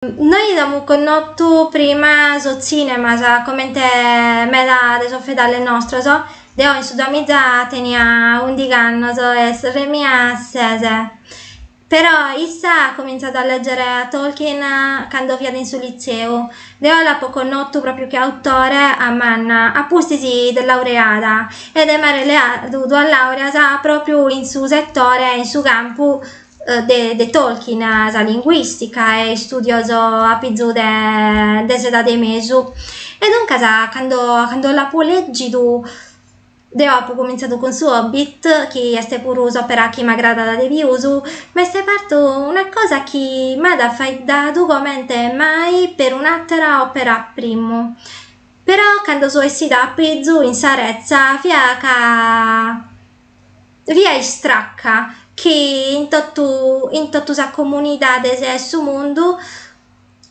Nois amus connotu prima sos tzìnemas, comente meda de sos fedales nostros. Deo in su duamiza tenia ùndighi annos e sorre mia ses. Però issa at comintzadu a lègere a Tolkien cando fiat in su litzeu. Deo l'apo connotu pròpiu che autore a manna, a pustis de laureada, e de m'àere leadu duas làureas pròpiu in su setore, in su campu de Tolkien sa linguìstica e istùdios apizu de s'edade 'e mesu. E duncas cando cando l'apo lègidu deo apo comintzadu cun su Hobbit, chi est puru s'òpera chi m'agradat de pius, m'est partu una cosa chi m'at faeddadu comente mai perun'àtera òpera primu. Però cando so essida a pizu in sa retza fiat ca fia istraca chi in totu in totu sas comunidades 'e su mundu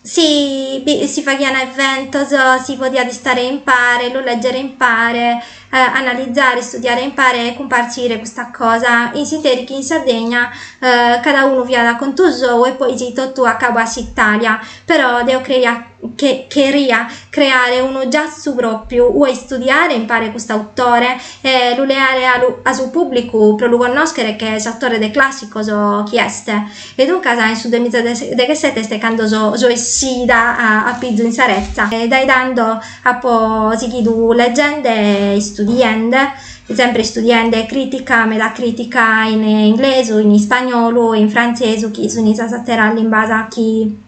si faghian eventos, si podiat istare impare, lu lègere impare, analizare, istudiare impare e cumpartzire custa cosa, in s'ìnteri chi in Sardigna cada unu fiat a contu sou e poi si totu a cabu a s'Italia, però deo creia che cheria creare unu giassu pròpiu, ue istudiare, impare cust'autore e lu leare a su pùblicu pro lu connòschere che s'autore de clàssicos chi est. E duncas in su duemizadeghesete est cando so essida a pizu in sa retza e dae tando apo sighidu legende e istudiende, sempre istudiende crìtica, meda crìtica in inglesu, in ispagnolu e in frantzesu chi sunt sas àteras limbas chi